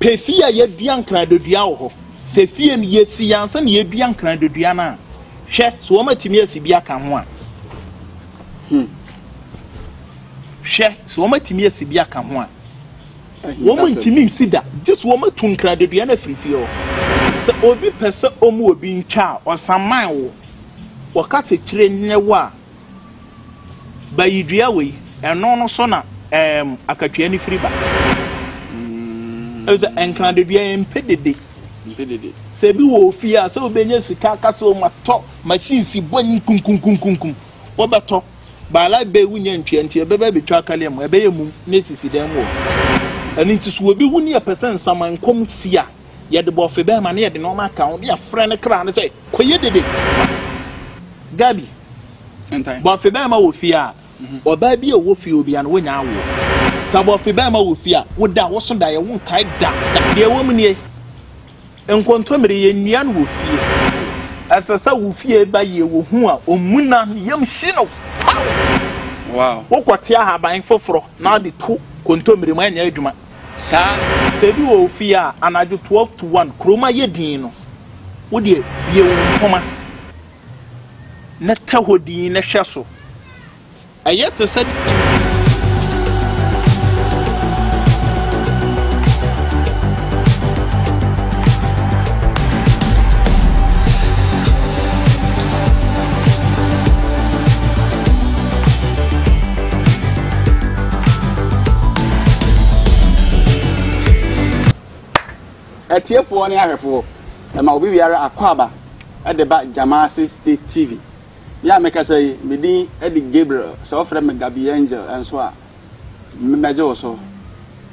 Pɛ fie a yɛadua nkradodua wɔ hɔ. Sɛ fie no yɛsi yɛ ansa na yɛadua nkradodua no a, hwɛ so wɔatumi asi bi aka ho a. Hmm. Hwɛ so wɔatumi asi bi aka ho a. Wɔn ntumi nsi da, gye so wɔatu nkradodua no afiri fie hɔ. Sɛ obi pɛ sɛ ɔmu obi ntwa a, ɔsaman wo. Wɔka sɛ kyire nyɛ wo a, Ba yi dua wei, ɛno no so na ɛɛm akatua no firi ba. Ɛsɛ mm. nkran de dua yɛn mpɛ dede. Mpɛ dede. Sɛ ebi wɔ ofie a sɛ obɛnya sika akasa wɔn atɔ machine si bɔ nyi kunkunkunkunkum wɔbɛtɔ baala bɛ wunya ntua nti ɛbɛbɛ bɛtwa akaliɛ mu ɛbɛyɛ mu ne sisi dan mu wɔ. Ɛno nti so obi wu ne yɛpɛ sɛ nsaman kɔm si a. Yɛde bɔfe bɛrima na yɛde nneɛma aka ho na yɛfrɛ ne kra no sɛ, kɔyɛ dede. Gabi, bɔfe bɛrima wɔ fie a, mhm. ɔbaa bi a ɔwɔ fie obia no wonya awoɔ. Sɛ bɔfe bɛrima wɔ fie a, woda wo so daeɛ wonkae da. Deɛ wɔ mu nie, nkontommire yɛnnua no wɔ fie. Ɛsɛ sɛ wo fie ba yie wɔ hu a ɔmmu na ne yam hyi no paw. Wokɔte ahaban foforɔ na ɔde to kontommire mu ɛnyɛ adwuma. Saa. Sɛ ebi wɔ wo fie a, anadwo twelve to one, kurom ayɛ dinn no, wo deɛ bue wo mpoma na tɛ hɔ dinn na hwɛ so. Ɛyɛ te sɛ. Atiefoɔ ne ahwɛfoɔ, ɛma obi biara akwaaba de ba Gyamase State TV. Me a mekasa yi, me din de Gabriel, sɛ wɔfrɛ me Gabi Angel nso a, mɛgye wo so.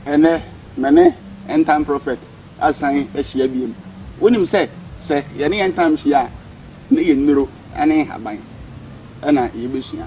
Ɛnnɛ, me ne End Time Prophet asan ahyia biom. Wonim sɛ, sɛ yɛne End Time hyia a, na yɛnnuro ne nhaban na yɛbɛsua.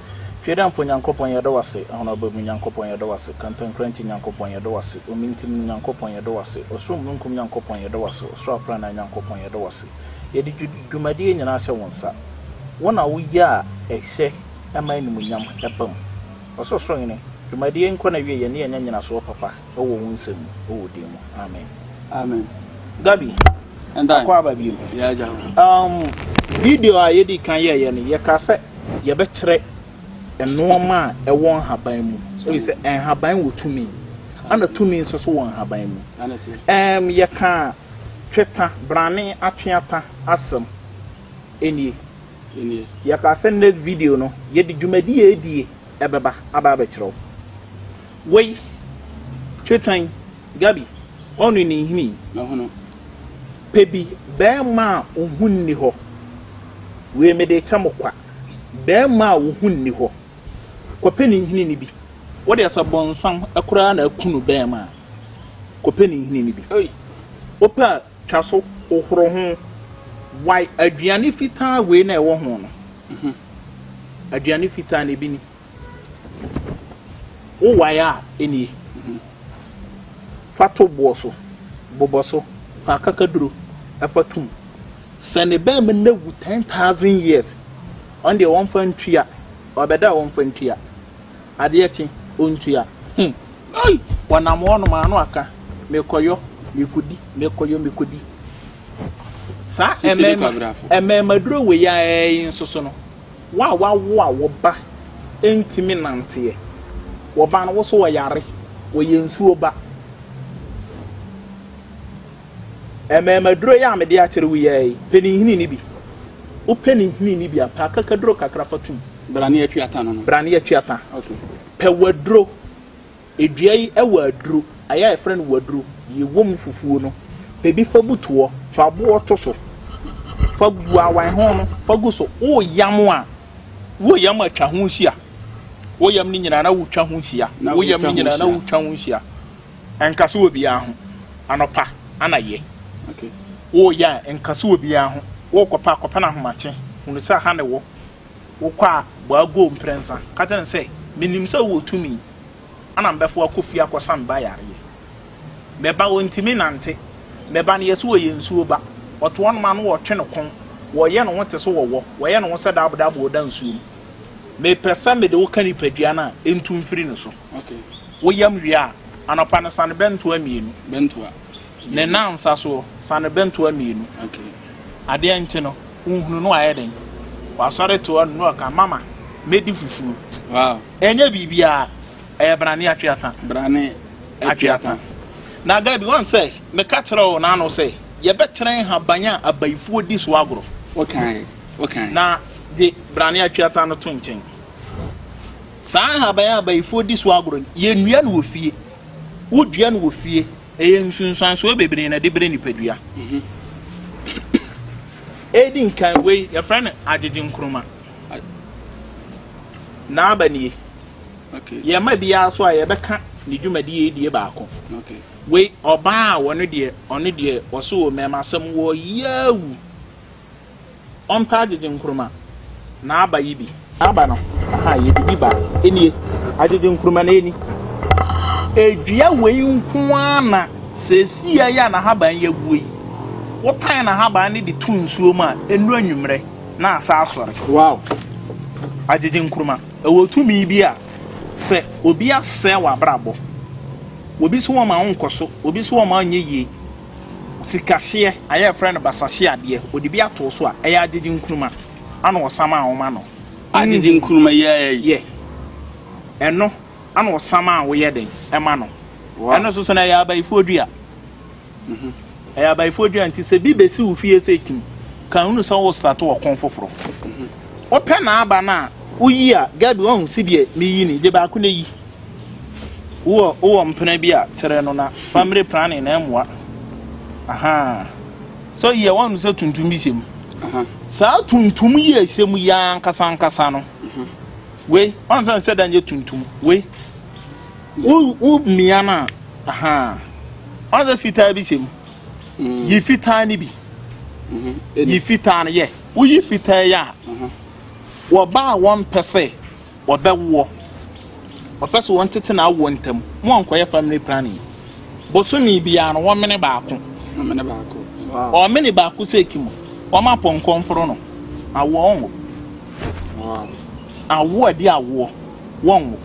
Tweedamfo Nyankopɔn yɛda wo ase, Ahonhobaa mu Nyankopɔn yɛda wo ase, Kantankrankyi Nyankopɔn yɛda wo ase, Omintim no Nyankopɔn yɛda wo ase, Ɔsoro Mununkum Nyankopɔn yɛda wo ase, Ɔsoro Aprannaa Nyankopɔn yɛda wo ase. Yɛde dwumadie nyinaa hyɛ wo nsa, wo na wo yɛ a ɛhyɛ ma animuonyam ba mu. Ɔsorosoroni, dwumadie yi nkɔ n'awieɛ na yɛnya nyinasoɔ papa. wɔ wo nsa mu wɔ din mu amen amen gabi ɛnda kɔ aba bio um video a yɛdi kan yɛyɛ no yɛka sɛ yɛbɛkyerɛ nnoɔma a ɛwɔ nhaban mu ɛfiri sɛ nhaban wɔ tumi ana tumi nso so wɔ nhaban mu um yɛka tweta brane atweata asɛm ɛnie yɛka sɛ next video no yɛde dwumadi a ɛdie ɛbɛba aba abɛkyerɛ wo Woi twe tan Gabi ɔno ne nhini ɔhono pɛ bi bɛɛma a wo ho nni hɔ wei mede kyɛ mo kwa bɛɛma a wo ho nni hɔ kɔ pɛ ne nhini no bi wo deɛ sɛ bɔnsam koraa na akunu bɛɛma a kɔ pɛ ne nhini no bi wo pɛ a twa so wo horo ho wai aduane fitaa wei na ɛwɔ ho no aduane fitaa no ebi ni. Wo wae a enie? Fa to boɔ so, bobɔ so, fa akakaduro fa tum. Sɛ ne bɛɛma no awu ten thousand years, ɔno deɛ wɔmfa ntua, ɔbɛda a wɔmfa ntua, adeɛ kye ɔntua. Hmm, ei, wɔnam hɔnom a na waka, mekɔyɔ, mekɔdi, mekɔyɔ, mekɔdi. Saa ɛmɛɛma, ɛmɛɛmaduro wei ara yi nso so no, Wo a woawo a wo ba ntumi nnanteɛ, wo ba no wo so ɔyare, ɔyɛ nsuo ba. Mmarimaduro yi a mede akyerɛ wo yi ara yi, pɛ ne nhini no bi. Wopɛ ne nhini no bi a, pɛ akakaduro kakra fa tom. Bra ne yɛtwe ata no no. Bra ne yɛtwe ata. Okay. Pɛ w'aduro. Dua yi wɔ aduru, ayɛ a yɛfrɛ no waduru, yɛ wɔ mu fufuo no, pɛ bi fa bu toɔ. Fa boɔ to so, fa gu awan ho no, fa gu so. Woyam a, woyam a twa ho hyia. Woyam ne nyinaa na wotwa ho hyia. Woyam ne nyinaa na wotwa ho hyia. Nka so wɔ biara ho. Anɔpa, anayɛ. Woyɛ a, nka so wɔ biara ho. Wokɔpɛ a, kɔpɛ no ahomakye. Hunu sɛ ha na ɛwɔ. Wokɔ a, bɔ agow mprɛnsa. Ka kyerɛ no sɛ, 'Minim sɛ wowɔ tumi a na mebɛfa akɔ fie akɔsa me ba yareɛ. Me ba, ɔntumi nnante. Me ba no yɛ sɛ ɔyɛ nsuo ba. Wɔto hɔnom a na wɔtwe no kɔn. Wɔyɛ ne ho te sɛ ɔwɔ. Wɔyɛ ne ho sɛ dabodaboɔ a ɔda nsuo mu. Mepɛ sɛ mede wo ka nipadua no a, ntu mfiri ne so. Woyam wie a, anɔpa no sa no bɛntoa mmienu. Ne nansa soɔ, sane bɛ ntoa mmienu. Adeɛ nkye no, wonhunu no ayɛ dɛn? Wasɔre toa no na ɔka, Mama, mɛdi fufuo. Ɛnyɛ biribiara, ɛyɛ brane atweata. Brane atweata. Na Gabi, woahu sɛ meka kyerɛɛ wo n'ano sɛ yɛbɛkyerɛ nhaban a abayifoɔ di so agorɔ? Wokae, wokae. Na gye brane atweata no to nkyɛn. Saa nhaban a abayifoɔ di so agorɔ no, yɛnnua no wɔ fie. Wodua no wɔ fie. Ɛyɛ nsunsuansoɔ bebree na ɛde brɛ nipadua. Ɛdi nkan wei yɛfrɛ no agyegye nkruma. N'aba nie. Yɛma biara so a yɛbɛka ne dwumadie yi die baako. Wei ɔbaa a wɔno deɛ ɔno deɛ ɔso wɔ mmɛɛma asɛm wɔ yaawu. Ɔmpɛ agyegye nkruma na aba yi bi. Aba no ahaa yɛ bibi ba nie agyegye nkruma na ɛni. Dua wei nko ara na seesei yi a n'ahaban yi aguo yi, wotan n'ahaban no de to nsuo mu a, ɛnuru anwummerɛ na asan asɔre. Wow! Agyegye nkruma, ɛwɔ tumi bi a sɛ obi asɛe w'abrabɔ, obi se wɔmma wo nkɔ so, obi se wɔmma wo nyɛ yie, Sikahyeɛ, a yɛfrɛ no basahyeɛ adeɛ, ɔde bi atoo so a, ɛyɛ agyegye nkruma, ɛna ɔsam a wɔma no. Agyegye nkruma yi ara yi. Yɛ. Ɛno, ɛna ɔsam a woyɛ dɛn, ɛma no. Ɛno nso so no, ɛyɛ abayifoɔ dua. Ɛyɛ abayifoɔ dua nti sɛ bi bɛsi wo fie sɛ kim, ka hunu sɛ worestate ɔko foforɔ. Wopɛ n'aba no a, woyi a, Gabi, woahu sedeɛ meyi no yi? Gye baako na yi. Wowɔ wowɔ mpena bi a kyerɛ no na family planning na ɛmoa. Ahaa. So yɛ wɔn sɛ tuntum bi hyɛ mu. Saa tuntum yi a ɛhyɛ mu yi ankasa ankasa no. Mhm. Wei wɔn sɛ sɛ dan yɛ tuntum. Wei wo wo mmea no a ahaa. Wɔn sɛ fitaa bi hyɛ mu. Mm. Yi fitaa no bi. Mhm. Yi fitaa no yɛ. Woyi fitaa yi a. Mhm. Wɔba a wɔn pɛ sɛ. wɔbɛwoɔ. Wɔpɛ sɛ wɔtete n'awoɔ ntam. Monkɔyɛ family planning. Bosome biara no, wɔmene baako. Wɔmene baako. Wow. Wɔmene baako sɛ eki mu. Wɔn apɔnkɔ mforo no. Awoɔ wɔnwo. Wow. Awoɔ adi awoɔ wɔnwo.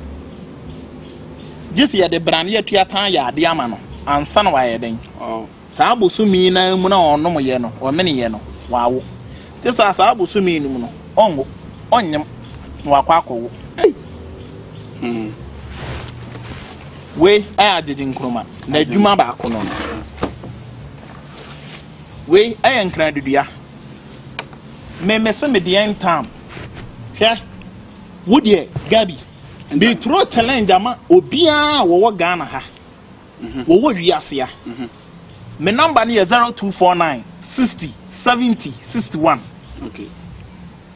Gye sɛ yɛde brane atua tan yɛ adeɛ ama no ansa na wayɛ dɛn. Wow. Saa bosome yi no ara mu na ɔnomeeɛ no, ɔmeneeɛ no, wawo. Te saa saa bosome yi no mu no, ɔnwo, ɔnyem, na wakɔ akɔwo. Ei! Hmm. Wei yɛ agyegye nkruma. N'adwuma baako no no. Wei yɛ nkradudua. Me me se me deɛ ntam. Hwɛ, wo deɛ, Gabi, me turo challenge ama obiara a wɔwɔ Ghana ha. wɔwɔ wiase a, me number no yɛ zero two four nine sixty seventy sixty one.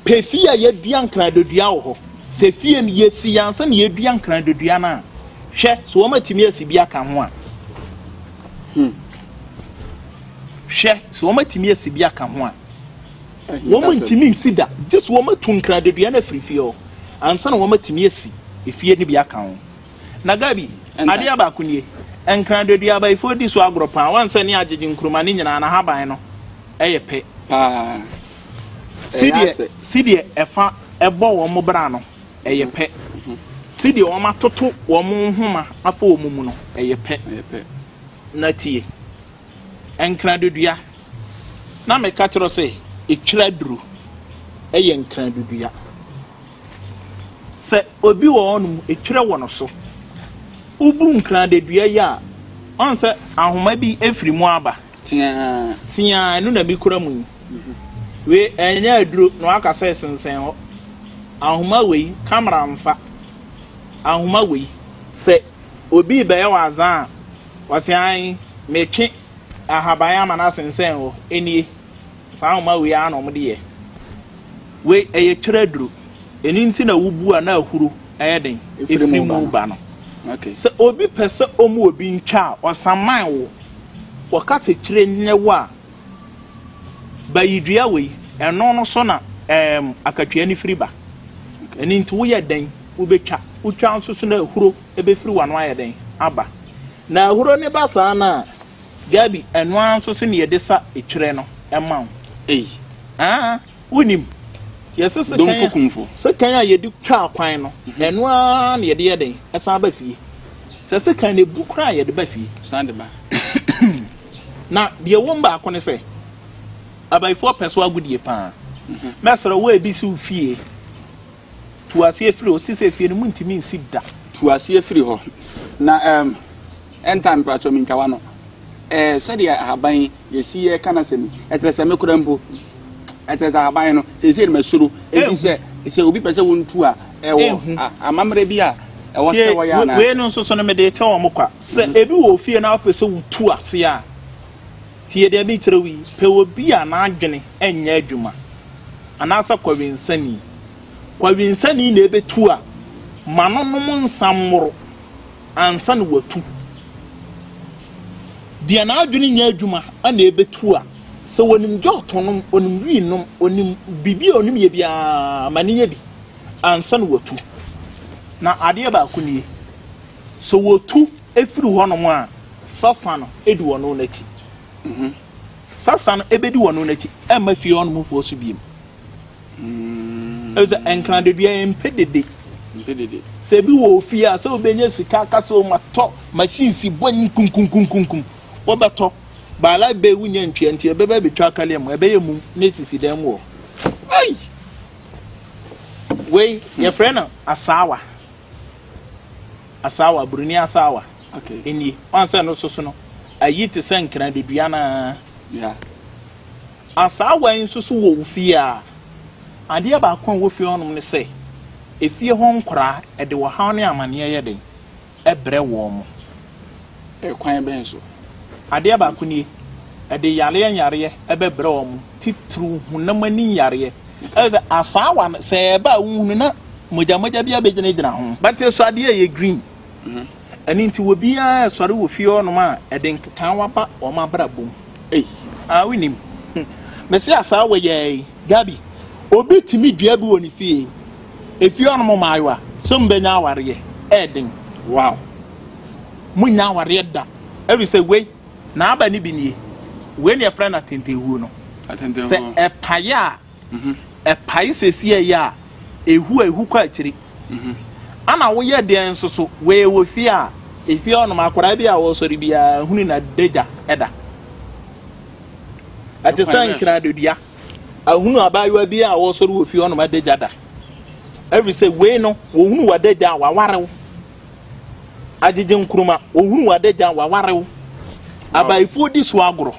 Pɛ fie a yɛdua nkradodua wɔ hɔ. Sɛ fie no yɛsi yɛn ansa na yɛdua nkradodua no a, hwɛ so wɔatumi asi bi aka ho a. Hmm. Hwɛ so wɔatumi asi bi aka ho a. Wɔn ntumi nsi da gye so wɔatu nkradodua no afiri fie hɔ ansa na wɔatumi asi efie no bi aka ho. Na Gabi, adeɛ baako nie, Nkran-Duadua abayifoɔ di so agorɔ paa, woahu sɛ ne agyegye nkuruma no nyinaa n'ahaban no yɛ pɛ paa, sedeɛ ɛfa bɔ wɔn bra no yɛ pɛ, sedeɛ wɔatoto wɔn nhoma afa wɔn mu no yɛ pɛ. Na tie, Nkran-Duadua, na meka kyerɛ wo sɛ, ɛtwira duru yɛ Nkran-Duadua. Sɛ obi wɔ hɔ nom etwerɛ wɔ no so, wobu nkran dedua yi a, ɔn sɛ ahoma bi firi mu aba. Teaa. Teaa, ɛno na mekura mu yi. Wei ɛnyɛ aduro na waka sɛ sensɛn hɔ. Ahoma wei, camera mfa. Ahoma wei, sɛ obi rebɛyɛ wo azaa a, ɔse ae, metwe ahaban ama no asensɛn hɔ. Ɛnie, Saa nwoma wei ara na wɔde yɛ. Wei, ɛyɛ twerɛ aduro. Ɛno nti na wobu a na ahuro yɛ den firi mu ba no. Sɛ obi pɛ sɛ ɔmu obi ntwa a, ɔsaman wo. Wɔka sɛ tire nyɛ wo a, bayi dua wei, ɛno no so na ɛɛm akatua no firi ba. Ɛno nti woyɛ dɛn wobɛtwa. Wotwa nso so na ahuro bɛfiri w'ano ayɛ dɛn aba. Na ahuro no ba saa no a. Gabi, ɛno ara nso sɛnea yɛde sa twerɛ no ma wo. Ei. Aa, wonim, yɛ sekan a yɛde twaa kwan no, ɛno ara na yɛde yɛ dɛn? Ɛsan ba fie. Sɛ sekan no ɛbu koraa a, yɛde ba fie. San de ba. Na deɛ ɛwom baako ne sɛ, abayifoɔ pɛ so agodie paa. Mɛsrɛ wo a ɛbi si wo fie. Tu aseɛ firi hɔ, te sɛ efie no mu ntumi nsi da. Tu aseɛ firi hɔ, na ɛm, ɛnta mpratwɔ mentwa w'ano. Ɛɛ, sɛdeɛ ahaban yi, yɛsi yɛ ka n'asɛm yi, ɛkyerɛ sɛ me kora mpo, ɛkyerɛ sɛ ahaban no, seesei no masuro, enti sɛ, sɛ obi pɛ sɛ wɔntu a, ɛwɔ a, amammerɛ bi a ɛwɔ sɛ wɔyɛ anaa? Wei no nso so no, mede rekyɛ wɔn kwa, sɛ ebi wɔ ofie na wopɛ sɛ wotu aseɛ a, Tie deɛ merekyerɛ wo yi, Pɛ obi a n'adwene nyɛ adwuma anaasɛ kɔwensani. Kɔwensani na ɛbɛtu a, ma no nom nsa mmoro ansa na watu. Deɛ n'adwene nyɛ adwuma na ɛbɛtu a, sɛ ɔnim gyɔɔt ɔnom, ɔnim wii nom, ɔnim biribi a ɔnim yɛ biara, ma no yɛ bi ansa na watu. Na adeɛ baako nie, sɛ ɔtu Ɛfiri hɔnom a, Sasan di wɔn no akyi. Sasan bɛdi wɔn no akyi mma fie hɔnom mpoɔ so biom. Ɛfiri sɛ nkradadua ɛmpɛ dede. Sɛ ebi wɔ ofie a, sɛ wobɛnya sika aka sɛ o matɔ machine si bɔ nyi kunkunkunkunkum, wobɛtɔ. By like bɛɛ wonya ntwea nti ɛbɛba abɛtwa akaleɛ mu, ɛbɛyɛ mum na ɛsisi dan mu hɔ. Ei! Wei yɛfrɛ no asaawa. Asaawa, Buroni asaawa, nie. Woahu sɛ no soso no, ayi te sɛ nkran dedua no ara. Asaawa yi nso so wɔ wo fie a, adeɛ baako a ɛwɔ fie hɔnom ne sɛ, efie hɔ nkwadaa, ɛde ɔhaw ne amaneɛ yɛ den brɛ wɔn. Ɛkwan bɛn so? Adeɛ baako nie, ɛde yareɛ nyareɛ bɛbrɛ wɔn, titiriw honam ani nyareɛ. Ɛyɛ sɛ asaawa no, sɛ ɛba a wonhunu na mogyamogya bi abɛgyinagyina ho. But ɛsɔ adeɛ a ɛyɛ green. Ɛno nti obiara resɔre wɔ fie hɔnom a, ɛde nkekaawa ba wɔn abrabɔ mu. Ei! Ah, wonim. Mese asaawa yi ara yi, Gabi, obi tumi dua bi wɔ ne fie. Efie hɔnom mmaayewa, sɛ wɔbɛnya awareɛ, ɛyɛ den. Wow! Monnya awareɛ da, ɛfiri sɛ wei, n'aba no bi nie, wei na yɛfrɛ no atɛntɛnhuo no. Sɛ ɛpae a, mhm. ɛpae sɛsiɛ yɛ a, ɛhu a ɛhu kɔ akyiri. Mhm. Ana woyɛ deɛ nso so, wei wɔ fie a, efie hɔnom akwadaa bi a wɔsɔre biara hunu na dagya ɛda. Ɛte sɛ nkradodua. Ahunu abaayewa bi a wɔsɔre wɔ fie hɔnom adagya da. Ɛfiri sɛ wei no, wɔhunu w'adagya a wawarew. Agyegye Nkrumah, Ohunu w'adagya, w'aware wo. Abayifoɔ di so agorɔ.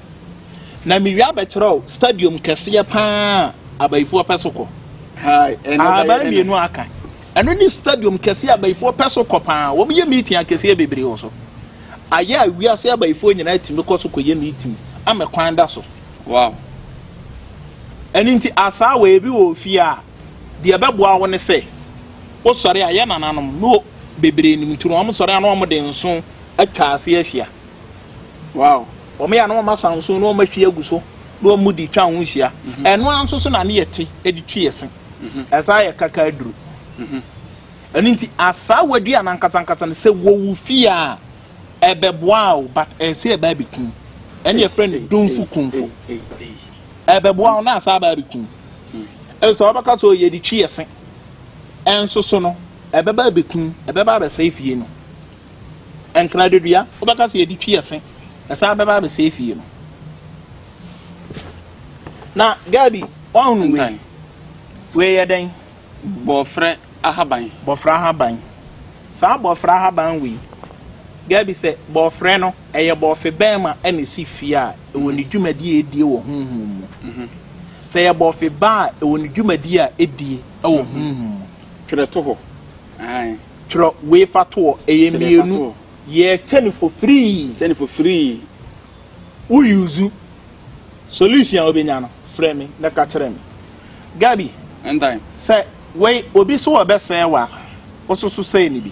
Na me wie abɛkyerɛ wo stadium kɛseɛ paa a abayifoɔ pɛ so kɔ. Ahaban mmienu aka. Ɛno ne stadium kɛseɛ a abayifoɔ pɛ so kɔ paa. Wɔn yɛ meeting akɛseɛ bebree wɔ so. Ayɛ a wiase abayifoɔ nyinaa tumi kɔ so kɔ yɛ meeting ama kwan da so. Wow. Ɛno nti asaawa ebi wɔ ofie a. Deɛ ɛbɛboa wo ne sɛ, wosɔre a, yɛ nananom no bebree nim nti no, wɔsɔre a na wɔde nso atwa ase ahyia. Wow. Wɔyɛ a na wɔasa nso na wɔahwie agu so na wɔde twa ho hyia. Ɛno ara nso so na ne yɛte de twe yɛ se. Ɛsaa yɛ kaka aduru. Ɛno nti asaawa dua no ankasa ankasa no sɛ wɔwo fie a, ɛbɛboa wo but ɛsɛ ɛbaa bɛkum. Ɛne yɛfrɛ no domfu kumfo. Ɛbɛboa wo na asan aba abɛku wo. Efisɛ wɔbɛka sɛ, 'Ɔyɛ de twi ɛse. Nso so no, ɛbɛba abɛku wo, ɛbɛba abɛsɛe fie no. Nkradadua, wobɛka sɛ, 'Yɛde twi ɛse. Ɛsan bɛba abɛsɛe fie no. Na Gabi, woahunu wei? Wei yɛ dɛn? Bɔɔfrɛ. ahaban. Bɔfrɛ ahaban. Saa bɔfrɛ ahaban wei, Gabi sɛ bɔfrɛ no, ɛyɛ bɔfe bɛn ma ɛna ɛsi fie a ɛwɔ ne dwumadie a ɛdie wɔ honhom mu? Sɛ ɛyɛ bɔfe ba a ɛwɔ ne dwumadie a ɛdie wɔ honhom mu. Twerɛ to hɔ. Aane. Twerɛ wei fa to hɔ. Ɛyɛ mmienu. Yɛ kyɛ ne fo firii. Kyɛ ne fo firii. Wo use solution a wobɛnya no, frɛ me na ka kyerɛ me. Gabi, sɛ Wei obi so ɔbɛsɛɛ wa wososo sɛɛ no bi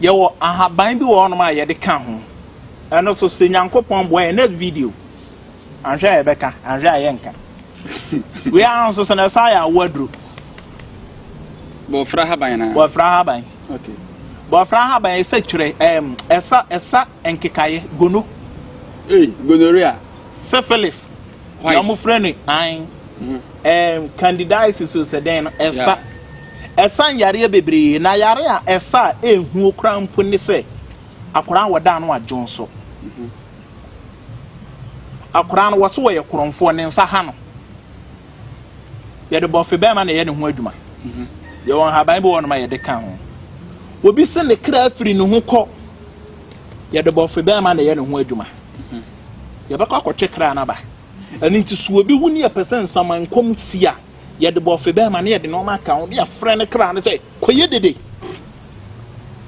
yɛwɔ ahaban bi wɔ hɔnom a yɛde ka ho ɛno so sɛ nyankopɔn boa yɛ next video anhwɛ a yɛbɛka anhwɛ a yɛnka wei ara nso sɛ na ɛsa yɛ awo aduro bɔfra haban na bɔfra haban okay bɔfra haban ɛsɛ twerɛ ɛm ɛsa ɛsa Nkekaeɛ, gono. Ei, gonorrhea. Syphilis, deɛ wɔn frɛ no an, ɛɛm, candidiasis o sɛ dɛn no, ɛsa. Ɛsa nyareɛ bebree, na yare a ɛsa a ɛnhuo koraa mpo ne sɛ, akwadaa a wɔda ano adwonsɔ. Akwadaa no, wɔse wɔyɛ korɔmfoɔ, ne nsa ha no. Yɛde bɔfe bɛrima na ɛyɛ ne ho adwuma. Yɛwɔ nhaban bi wɔ nom a yɛde ka ho. Obi se ne kra firi ne ho kɔ. Yɛde bɔfe bɛrima na ɛyɛ ne ho adwuma. Yɛbɛkɔ akɔtwe kra no aba. Ɛno nti so obi wu ne yɛpɛ sɛ nsamankwam si a, yɛde bɔfe bɛrima na yɛde nneɛma aka ho ne yɛfrɛ ne kra no sɛ, kɔyɛ dede.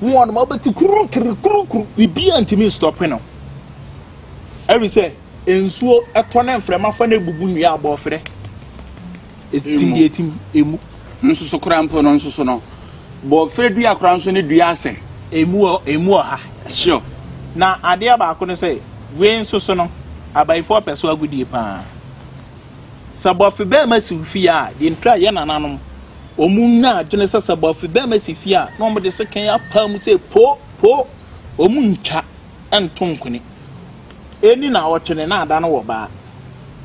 Mu wɔ nom a wobɛte kurukiri kurukuru, biribiara ntumi nstɔpe no. Ɛfiri sɛ. Nsuo tɔ na mframa fa na ebubu nnua a abɔɔferɛ etim deɛ etim emu. Nsoso koraa mpo no nsoso no bɔɔferɛ dua koraa nso ne dua asɛ. Emu wɔ emu wɔ ha. Sure. Na adeɛ baako no sɛ wei nsoso no abayifoɔ pɛ so agodie paa. Sɛ bɔfe bɛrima si fie a deɛ ntura yɛ nananom wɔn nya adwene sɛ sɛ bɔfe bɛrima si fie a na wɔn de sekan apaa mu sɛ po po wɔn ntwa nto nkwene. Enni naawɔtwe ne naada no wɔ baa.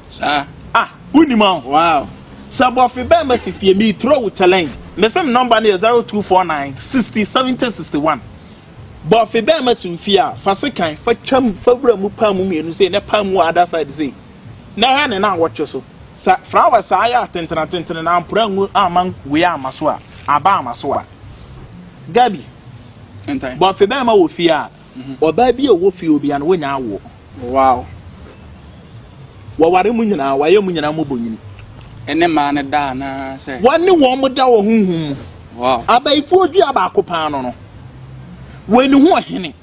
Saa. Ah, wonim a. Wow. Sɛ bɔfe bɛn ma si fie, me throw wo challenge. Me se me number no yɛ 0249 60 70 61. Bɔfe bɛn ma si wo fie a, fa sekan, fa twam, fa wura mu paa mu mmienu sei na paa mu wɔ other side sei. Na hwɛ ne naawɔtwe so. Sɛ flowers a ayɛ atentene atentene na ampra angu amma wei amma so a, aba amma so a. Gabi, Bɔfe bɛrima wɔ fie a, ɔbaa bi a ɔwɔ fie obiara no, wɔnya awoɔ. Wɔware mo nyinaa, wɔayɛ mo nyinaa mmɔbɔnyini. Ɛne mmaa no da anaasɛ. Wɔne wɔn da wɔ honhom mu. Abayifoɔ dua baako paa no no, wei ne ho ɔhene.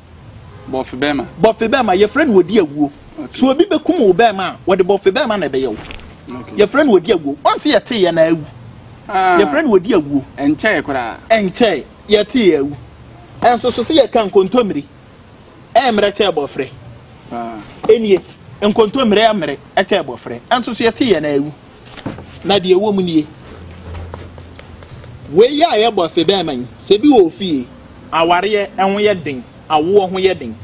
Bɔfe bɛrima. Bɔfe bɛrima, yɛfrɛ no ɔdi awuo. Sɛ obi bɛkum wo bɛrima a, wɔde bɔfe bɛrima na ɛbɛyɛ wo. Yɛfrɛ no ɔdi awuo. Wɔn se yɛteeɛ na awu. Yɛfrɛ no ɔdi awuo. Ɛnkyɛe koraa. Ɛnkyɛe. Yɛte yɛ awu. Ɛnso so se yɛka nkontommire ɛmmerɛ kyɛ bɔfrɛ. Enie, nkontommire ɛmmerɛ ɛkyɛ bɔfrɛ. Ɛnso so yɛte yɛn awu. Na deɛ ɛwɔ mu nie. Wei a yɛbɔ se bɛɛma yi, sɛ bi wɔ ofie, awareɛ ɛho yɛ den, awoɔ ho yɛ den.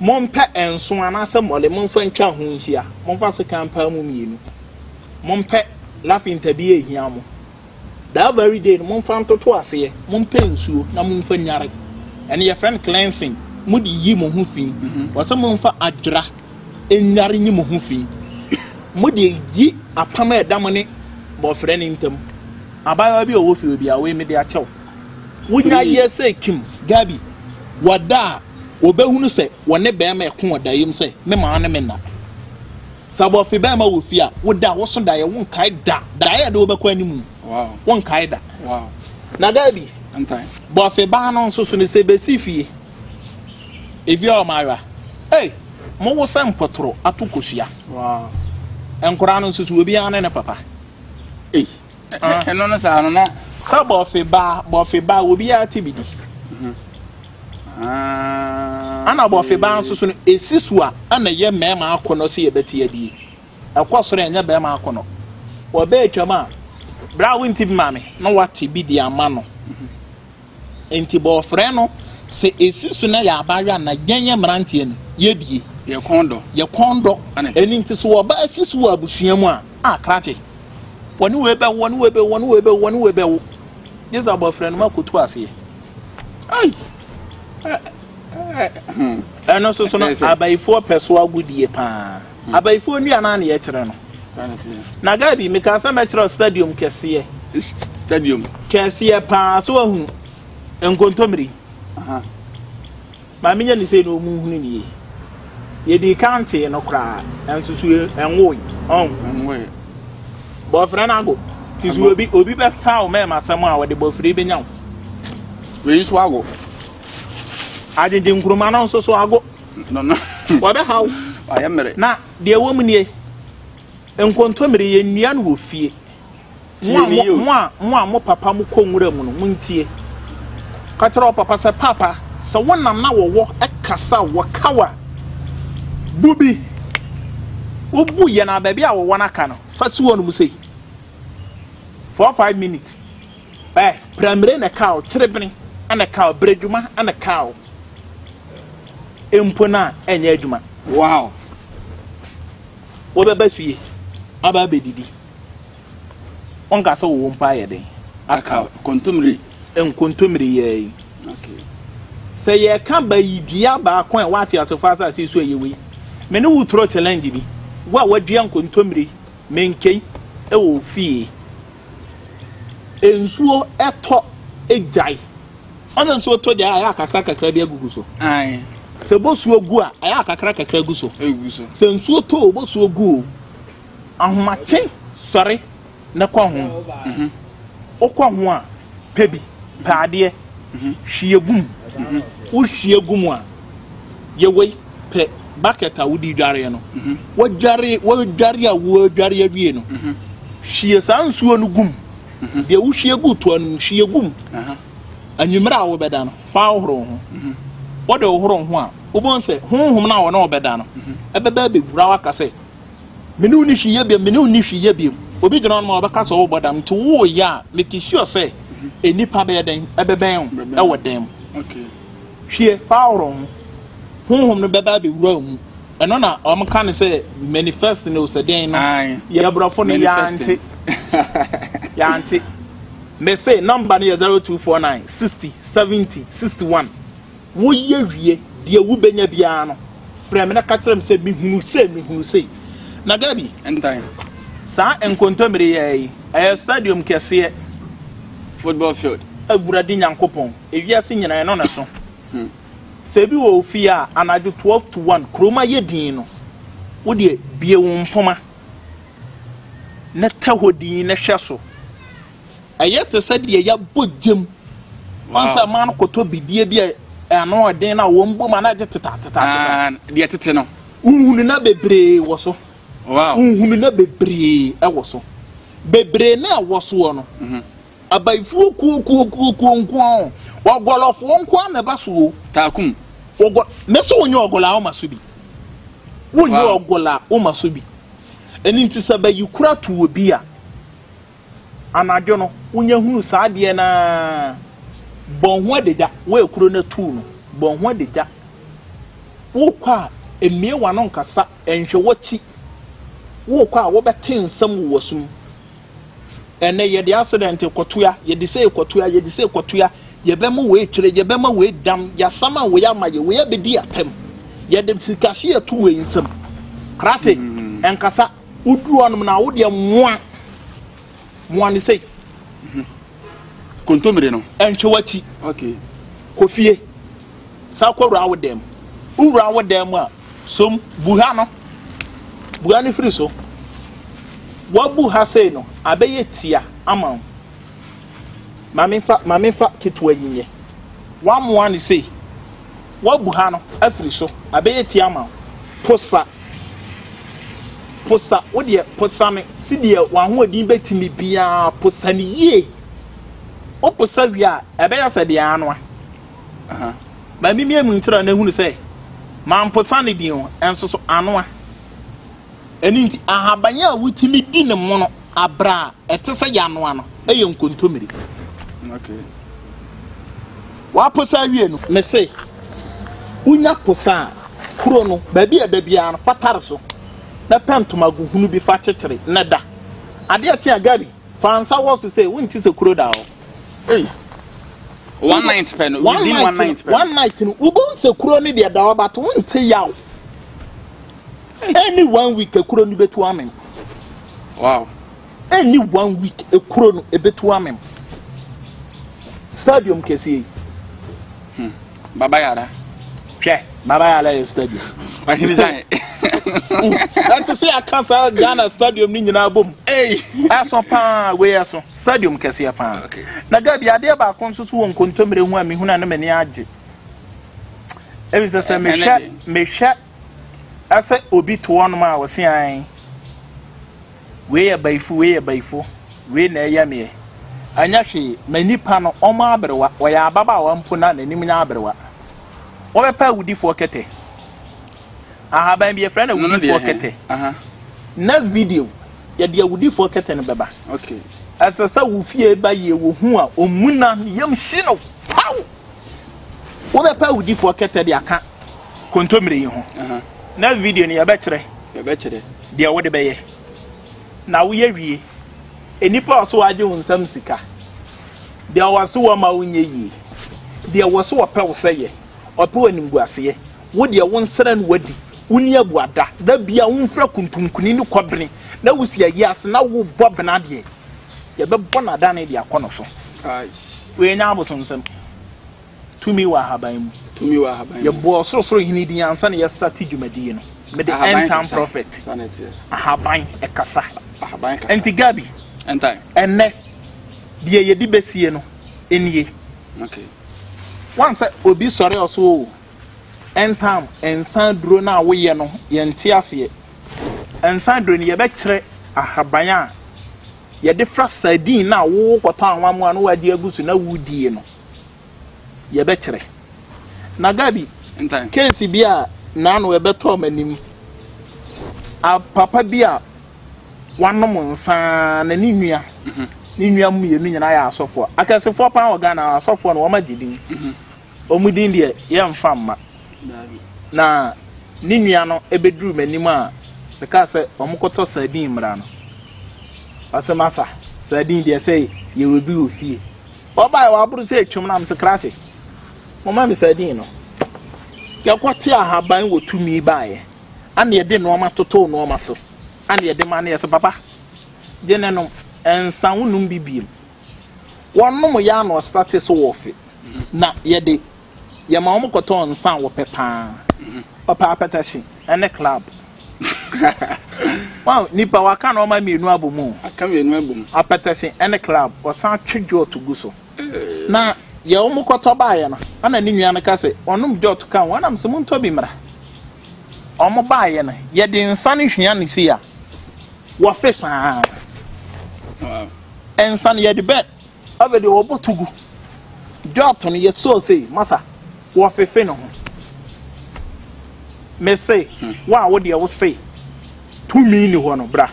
Mompɛ nso anaasɛ mmɔle, momfa ntwa ho nhyia. Momfa sekan paa mu mmienu. Mompɛ lafinta bi ɛhia mo. That very day no momfa ntoto aseɛ, mompɛ nsuo na momfa nyare. Ɛno yɛfrɛ no cleansing, mode yi mo ho fi. Wɔsɛ momfa adwera nyare nyi mo ho fi. Mode yi apam a ɛda mo ne bɔfrɛ no ntam. Abaayewa bi a ɔwɔ fie biara, wei mede akyɛ wo. Wonya yɛ sɛ Kim, Gabi, wɔda a, wɔbɛhunu sɛ wɔne bɛrima ɛko wɔ daeɛm sɛ me maa no me nna. Sɛ abɔfe bɛɛma wɔ fie a, wo da a woso daeɛ wo nkae da, daeɛ a yɛde wo bɛkɔ anim wo nkae da. Na da bi, bɔfe baa no nso so no sɛ bɛsi fie, efie a wɔawa, ei, mo wo sɛ mpɔtoro ato kosua. Nkwadaa no nso so, obiara ne ne papa. Ei. ɛno no saa no na sɛ bɔfe ba bɔfe ba obiara te bi di mhm. ah, ana bɔfe ba nso so no ɛsi so a ɛna ɛyɛ mmarima akɔnɔ sɛ yɛbɛte adie ɛkɔ soro ɛnyɛ barima akɔnɔ wɔbɛɛ twam a berɛ a wonti bi ma me na wate bi de ama no mhm. Nti bɔ ɔfrɛ no sɛ esi so na yɛ aba awa na yɛn yɛ mmeranteɛ no yɛ bie. Yɛ kɔn dɔ. Yɛ kɔn dɔ. Ɛni nti so ɔba esi so wɔ abusua mu a, a krakye. Wɔne wei bɛwo, wɔne wei bɛwo, wɔne wei bɛwo, wɔne wei bɛwo. Gyesa bɔ ɔfrɛ no ma kotu aseɛ. Ai! Ɛno nso so no, abayifoɔ pɛ so agodie paa. hmm. abayifoɔ nnua no aneɛ kyerɛ no na gabi mekaa sɛ mɛkyerɛ stadium kɛseɛ stadium kɛseɛ paa so ahunu nkontommiri ma menyɛ ne sei na ɔmu hunu ne yie yɛdi ka ntee no koraa ɛnso so ɛnwoe ɔn bɔfrɛ no ago nti so obi obi bɛka wo mɛma asɛm a wɔde bɔfrɛ bɛnya wo wei nso ago agyegye nkuruma no nso so ago No no. Wɔbɛhaw. Ayɛ mmere. Na deɛ ɛwɔ mu nie, nkontommire, yɛnnua no wɔ fie. Mo a mo, mo a, mo a mo papa mo kɔ nwura mu no, montie. Ka kyerɛ wo papa sɛ, Papa, sɛ wo nam na wɔwɔ kasa a wɔkaw a, bu bi. Wobu yɛn a, baabi a wɔwɔ no aka no, fa si wɔn mu sei. Four, five minutes. Ɛ, prɛmire na ɛka o, kyerebene na ɛka o, berɛdwuma na ɛka o, mpo no a ɛnyɛ adwuma. Wow! Wobɛba fie aba abɛdidi, wonka sɛ wo mpo ayɛ den aka o. Kontommire. Nkontommire yi ara yi. Okay. Sɛ yɛka ba yi dua baako a ɛwɔ ateasefo asase yi so a ɛyɛ wei. Me ne wo turo challenge bi, wo a woadua nkontommire menkei wɔ wo fie. Nsuo tɔ gyae. Ɔna nsuo tɔ gyae a ɛyɛ akakra kakra bi agugu so. Sɛ bosuo gu a ɛyɛ akakra kakra gu so. Sɛ nsuo tɔ o bosuo gu o ahomakye sɔre na kɔ ho. Mhm. Wokɔ ho a pɛ bi, pɛ adeɛ, hwie gu mu. Wohwie gu mu a. Yɛwei pɛ bucket a wode dwareɛ no, wadware wadware a wadware awie no, hwie saa nsuo no gum. Deɛ wohwie gu toa no mu hwie gum. Anwummerɛ a wobɛda no, fa hohoro wo ho. Wode hohoro wo ho a, wobɛhu sɛ honhom no a wɔne wobɛda no ɛbɛba abɛwura wo aka sɛ, mene wo ni hwee yɛ biom, mene wo ni hwee yɛ biom. Obi gyina hɔ nom a ɔbɛka sɛ wobɔ dam nti woyɛ a, make sure sɛ nnipa bɛyɛ dɛn ɛbɛbɛn wo ɛwɔ dɛm. Hwie Paulo ho. Honhom no bɛba abɛwura wo mu. Ɛno na wɔka no sɛ manifest no o, sɛ dɛn no. Yɛn aborɔfo no yɛante. Yɛante. Mese number no yɛ zero two four nine sixty seventy sixty one. Woyɛ wie, deɛ wobɛnya biara no, frɛ me na ka kyerɛ me sɛ mehunu sei, mehunu sei. Na Gabi, saa nkontommire yi ara yi, ɛyɛ stadium kɛseɛ. Football field. Awurade Nyankopɔn. Ewiase nyinaa ɛno na ɛso. Sɛ ebi wɔ wo fie a, anadwo twelve to one, kurom ayɛ dinn no, wo deɛ bue wo mpoma na tɛ hɔ dinn na hwɛ so. Ɛyɛ te sɛ deɛ yɛabɔ gya mu. Wɔn sɛ mmaa no kɔtɔ bidie bi a ano yɛ den na wɔn bɔ mu a na agye tetaatetaatetɛ. Ah, deɛ tete no. Nhunu na bebree wɔ so. Wow. Nhunu na bebree wɔ so. Bebree na ɛwɔ soɔ no. Mm-hmm. Abayifoɔ kuo kuo kuo kuo nkoa o Ɔgɔlɔfoɔ nkoa na ɛba so o Taakum Ɔgɔ Ne sɛ wonyɛ ɔgɔlɔ a woma so bi Wonyɛ wow. ɔgɔlɔ a woma so bi Ɛno nti sɛ bayikura to obi a Anadwo no wonya hunu saa adeɛ no ara Bɔ ho adagya Woyɛ kuro no atuu no Bɔ ho adagya Worekɔ a mmue w'ano nkasa Nhwɛ w'akyi Worekɔ a wobɛte nsɛm wɔ w'asom Ɛnnɛ yɛde asedɛnte kɔtoa, yɛde sei kɔtoa, yɛde sei kɔtoa, yɛbɛma wei twere, yɛbɛma wei dam, yɛasama wei ama yɛ, wei abɛdi atɛm, yɛde sikahye ato wei nsam. Krate, ɛnkasa, woduru hɔnom na wodeɛ mmoa, mmoa no sei. Kontomire no. Ɛntwe w'akyi. Okay. Kofie. Saa kɔwura wo dan mu. Wowura wo dan mu a, Som, bu ha no. Bu ha no firi so. Wabu ha sei no, abɛyɛ tia ama wo. Maame fa, maame fa ketewa yi nyɛ. Wamoa no sei. Wabu ha no afiri so, abɛyɛ tia ama wo. Posa. Posa, wo deɛ posa no sedeɛ w'ahoɔden bɛtumi biara, posa no yie. Woposa wie a, ɛbɛyɛ sɛ deɛ anoa. Ma mimia mu ntra na hunu sɛ mamposa ne din o, nso so anoa. Ɛno nti, ahaban a wotumi di ne mono abere a ɛte sɛ yɛanoa no yɛ nkontommire. Waposa awie no, mese wonya posa a, kuro no baabi a ɛda biara no, fa tare so na pɛ ntoma gu hunu bi fa kyekyere na da. Adeɛ kye a, Gabi. Fa nsa wɔ so sɛ wonte sɛ kuro da hɔ. Ei. One night pɛ no, within one night pɛ. One night no, wobɛhu sɛ kuro no deɛ da hɔ but wonte yaw. Ɛni one week kuro no bɛtu amem. Wow. Ɛni one week kuro no ɛbɛtu amem. Stadium kɛseɛ yi. Hmm. Baba Yara. Hwɛ, Baba Yara yɛ stadium. Ɔhene Gyan. Ɛte sɛ aka saa Ghana stadium no nyinaa bom. Ɛso paa, wei ɛso. Stadium kɛseɛ paa. Na Gabi, adeɛ baako nso so wɔ nkontommire ho a mehunu a na m'ani agye. Ebi sɛ sɛ mehwɛ mehwɛ Sɛ obi to wɔnom a, wɔse aane. Wei yɛ bayifo, wei yɛ bayifo, wei na ɛyɛ meɛ. Ɛnyɛ hwee, ma nnipa no, wɔn aberewa, ɔyɛ ababaawa mpo na n'anim nyɛ aberewa. Wɔbɛpɛ awudifoɔ kɛtɛ. Ahaban bi, yɛfrɛ no awudifoɔ kɛtɛ. Next video, yɛde awudifoɔ kɛtɛ no bɛba. Ɛsɛ sɛ wo fie ba yie, wɔhu a, wɔmuna ne yam hye no, paw! wobɛpɛ awudifoɔ kɛtɛ de aka kontommire yi ho na video no yɛbɛkyerɛ deɛ wode bɛyɛ na woyɛ wie nnipa a ɔso agye wo nsam sika deɛ ɔwɔ so wɔ ma wonyɛ yie deɛ wɔ so ɔpɛ wo sɛ yɛ ɔpɛ wɔ nimguaseɛ wo deɛ wo nsrɛ no wadi wo ni abuada da bia wo mfira kuntunkuni ne kɔbene na wosi ayi ase na wobɔ bena deɛ Yɛbɛbɔ no adane de akɔ no so. Yɛanya abosomsɛm. Tumi wɔ ahaban mu. Tumi wɔ ahaban mu. Yɛbɔ ɔsorosoro hene din ansa na yɛstate dwumadie no. Mede end time prophet. Ahaban ɛkasa. Ahaban kasa. Nti Gabi. Ɛntan. Ɛnɛ deɛ yɛde bɛsie no nie. Okay. Wansɛ obi sɔre ɔso o. Ntam nsa aduro no a woyɛ no, yɛnte aseɛ. Nsa aduro no, yɛbɛkyerɛ ahaban a yɛde fra sardine no a wokɔtɔ anwamoa na woagye agu so na wodie no, yɛbɛkyerɛ. Na Gabi, keesi bi a naano ɛbɛtɔɔ m'anim, a papa bi a wanom nsa na ne nua, ne nua mmienu nyinaa yɛ asɔfoɔ, akɛsefoɔ paa wɔ Ghana, asɔfoɔ no wɔagye din. Wɔn din deɛ, yɛremfa mma. Na ne nua no bɛduruu m'anim a, mekaa sɛ, 'Wɔkɔtɔ sardine mmra no. Ɔse, 'Masa, sardine deɛ sɛ yɛwɔ bi wɔ fie. Ɔbaeɛ, waboro sɛ atwam na mese, 'Krakye, momma me sardine no. Yɛkɔtee ahaban wɔ Tumi baeɛ a na yɛde nnoɔma totoo nnoɔma so a na yɛde ma no. Yɛse, 'Papa, gye na nom. Ɛnsa, wonnom bi bio. Wɔnom yɛ ano ɔsra te sɛ wɔfe, na yɛ de, yɛma wɔn kɔtɔ nsa a wɔpɛ pa ara. Wɔpɛ apɛtɛhye ne club. Wow, nnipa, wɔaka nnoɔma mmienu abom o. Aka mmienu abom. Apɛtɛhye ne club. Wɔsan twe jɔɔto gu so. Na yɛ wɔn kɔtɔ baeɛ no, ɛna ne nua no ka sɛ, wɔnom jɔɔto ka ho, ɛna mesɛ montɔ bi mmra. Wɔn baeɛ no, yɛde nsa no hwia no sei a, wɔfe saa ara. Nsa no yɛde bɛ afei deɛ wɔbɔ to gu dwɔɔto no yɛsoo sei masa wɔfefe ne ho mese hmm. wo a wo deɛ wo sei tumi ni hɔ no bra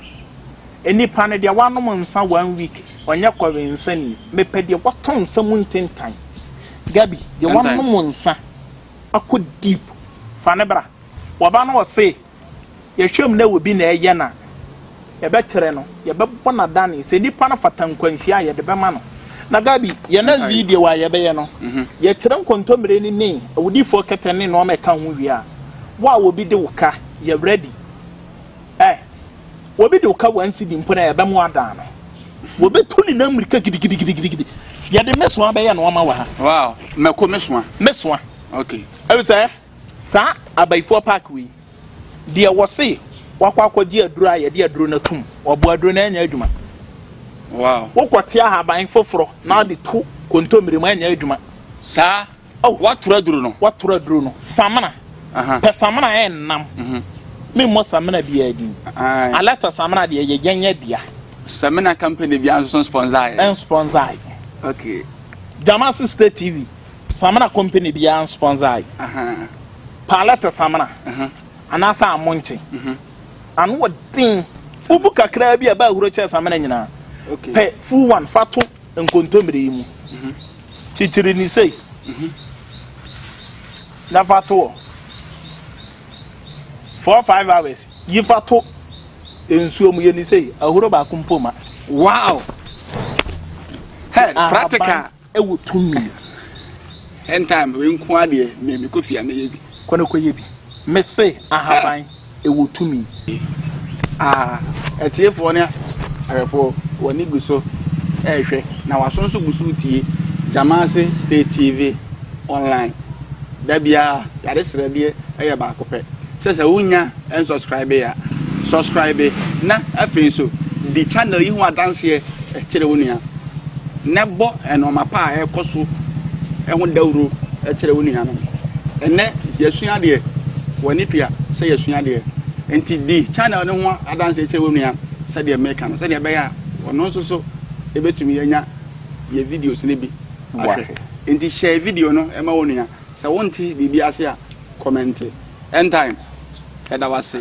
nnipa no deɛ wanom nsa one week ɔnyɛ kɔwe nsa ni mepɛ deɛ wɔtɔ nsa mu ntentan gabi deɛ wanom nsa akɔ deep fa ne bra wɔba no ɔse Yɛhwɛ mu na ɛwɔ bi na ɛyɛ no a, yɛbɛkyerɛ no, yɛbɛbɔ no adane sɛ nipa no fata nkwanhyia a, yɛde bɛma no. Na Gabi, yɛ na video a yɛbɛyɛ no, yɛkyerɛ nkontommire no ne awudifoɔ kɛtɛ ne nnoɔma ɛka ho wie a, wo a obi de wo ka, yɛ ready. Eh, obi de wo ka one cedi mpo no a, yɛbɛma wo adane no. Wɔbɛtu ne nan mmirika gidigidigidigidi. Yɛde mesoa bɛyɛ nnoɔma wɔ ha. Wow, mako mesoa. Mesoa. Okay. Ɛfiri sɛ. Saa abayifoɔ park wei deɛ wɔse wakɔ akɔgye aduro a yɛde aduro no atum wɔbo aduro no anya adwuma wow wokɔte ahaban foforɔ na ɔde to kontommire mu anya adwuma saa oh watora aduro no watora aduro no samena pɛ samena yɛ nnam mhm. memmɔ samena biara din alɛta samena deɛ yɛ yɛnyɛ dea samena company biara nso sponsor yɛ sponsor okay Jamasi State TV Samina company biara nsponsor yi. Palette samina anaasɛ amonkye. Ano wɔ den. Wobu kakraa bi a ɛba ahuro kyɛn samina nyinaa. Pɛ full one fa to nkontommire yi mu. Kyikyiri ne sei na fa to hɔ. Four five hours yi fa to nsuo mu yɛ ne sei ahuro baako mpo ma. Wow! Hey, practical. Ɛwɔ tumi a. End time wei nko ara deɛ me me kɔ fie a mɛyɛ bi. Kɔ na kɔ yɛ bi. Me se ahaban ɛwɔ tumi. Ah atiefoɔ ne ahwɛfoɔ wɔn ani gu so ɛrehwɛ na wɔn aso nso gu so retie Gyamase State TV online. Da biara yɛade srɛdeɛ ɛyɛ baako pɛ sɛ sɛ wonya. Ɛnsɔskraibe a, sɔskraibe na afei nso di channel yi ho adanseɛ kyerɛ wo nua, na bɔ nnoɔma pa a ɛrekɔ so ho dawuro kyerɛ wo nuanom. Ɛnnɛ yɛasua adeɛ, w'ani tua sɛ yɛasua adeɛ, nti di channel no ho adanseɛ kyerɛ wo nua sɛdeɛ meka no, sɛdeɛ ɛbɛyɛ a ɔno nso so ɛbɛtumi anya yɛ videos no bi ahwɛ. Nti hyɛ video no ma wo nua, sɛ wonte biribi ase a kɔmɛnte. End time yɛda wo ase.